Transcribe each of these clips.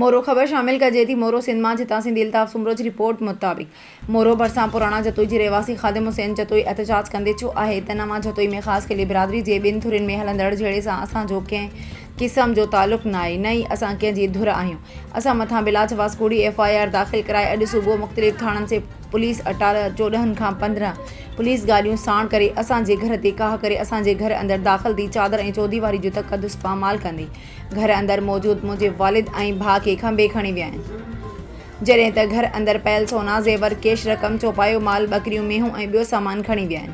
مورو، خبر شامل ڪجي ٿي، مورو سنڌ مان جتان سنڌي الطاف سومروچ رپورٽ مطابق مورو ڀرسان پراڻا جتوئي جي رهواسي خادم حسين جتوئي احتجاج ڪندي چيو آهي ته نه مان جتوئي ۾ خاص قلي برادري جي ٻين ڌرين ۾ هلندڙ جهيڙي سان اسان جو ڪنهن قسم جو تعلق ناهي نه ئي اسان ڪنهن جي ڌر آهيون اسان مٿان بلاجواز ڪوڙي ايف آء آر داخل ڪرائي اڄ صبح مختلف ٿاڻن سي پوليس اٽالهه چوڏهن کان پندرهن پوليس گاڏيون ساڻ ڪري اسان جي گهر تي ڪاهه ڪري اسان جي گهر اندر داخل ٿي چادر ۽ چوديواري جو تقدس پامال ڪندي گهر اندر موجود منهنجي والد ۽ ڀاء کي کنڀي کڻي ويا آهن. جڏهن ته گهر اندر پيل سونا، زيور، ڪيش رقم، چوپايو مال، ٻڪريون، مينهون ۽ ٻيو سامان کڻي ويا آهن.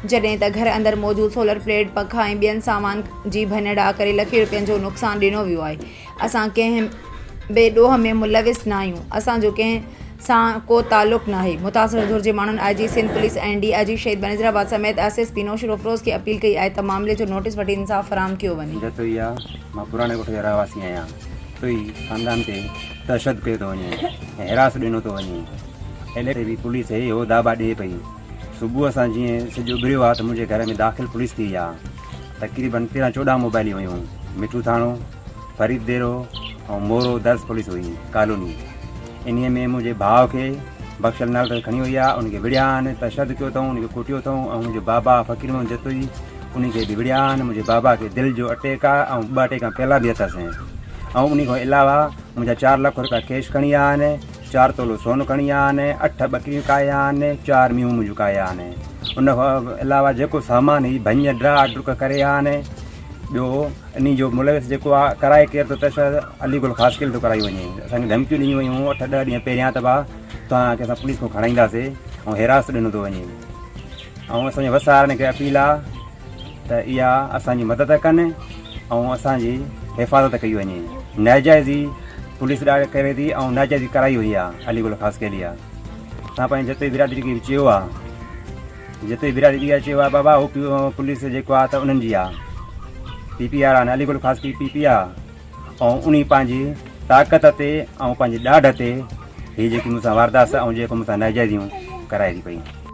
جڏهن ته گهر اندر موجود سولر پليٽ، پکا ۽ ٻين سامان جي ڀڃڙاء ڪري لکين روپين جو نقصان ڏنو ويو آهي. اسان ڪنهن به ڏوهه ۾ ملوث ناهيون. اسان جو ڪنهن سان ڪو تعلق ناهي. متاثر ڌر جي ماڻهن I G Sindh police ۽ D I G Shaheed Benazirabad سميت ايس ايس پي نوشهروافروز کي اپيل ڪئي آهي ته معاملي جو نوٽيس وٺي انصاف فراهم ڪيو وڃي. جتوئي آء مان پراڻي ڳوٺ جو رهواسي آهيان، جتوئي خاندان تي تشدد ڪيو ٿو وڃي ۽ هراس ڏنو ٿو وڃي، ايل اي بي پوليس اهو دعويٰ ڏئي پئي، صبح سان جيئن سج اڀريو آهي ته منهنجي گهر ۾ داخل پوليس ٿي آهي، تقريبن تيرهن چوڏهن موبائليون هيون، مٺو ٿاڻو. فريد ديرو ۽ مورو درس پوليس هئي ڪالوني انهي ۾ منهنجي ڀاء کي بخشل نال کي کڻي وئي آ ان کي وڙيا آن تشد ڪيو اٿئون ان کي ڪوٽيو اٿئون ۽ منهنجو بابا فقير محمد جتوئي ان کي به وڙيا آن منهنجي بابا کي دل جو اٽيڪ آ ۽ ٻه اٽيڪا پهلا به اٿس ۽ ان کان علاوه منهنجا چار لک روپيا ڪيش کڻي آ آن چار تولو سون کڻي آ آن اٺ ٻڪريون کائي آ آن چار ميون منهنجو کائي آ آن ان کان علاوه جيڪو سامان هي ڀڃ ڊرا ڊرڪ ڪري آ آن ٻيو انهي جو ملوث جيڪو آ ڪرائي ڪير ٿو ته شايد علي گل خاص خيل ٿو ڪرائي وڃي اسان کي ڌمڪيون ڏنيون ويون هيون اٺ ڏهه ڏينهن پهريان ته باه توهان کي اسان پوليس کان کڻائينداسي ۽ حراست ڏنو ٿو وڃي ۽ اسان جي وسارن کي اپيل آ ته اها اسان جي مدد ڪن ۽ اسان جي حفاظت ڪئي وڃي ناجائزي پوليس ڏاڙ ڪري ٿي ۽ ناجائزي ڪرائي وئي آ علي گل خاص خيلي آ اسان پنهنجي جتوئي برادري کي چيو آ جتي برادري جي اچي ويا بابا او پي پوليس جيڪو آ ته انهن جي آ پي پي آر آ علي گل خاص پي پي پي آ ۽ انهي پنهنجي طاقت تي ۽ پنهنجي ڏاڍ تي هي جيڪي مون سان واردات ۽ جيڪو مون سان ناجائزيون ڪرائي ٿي پئي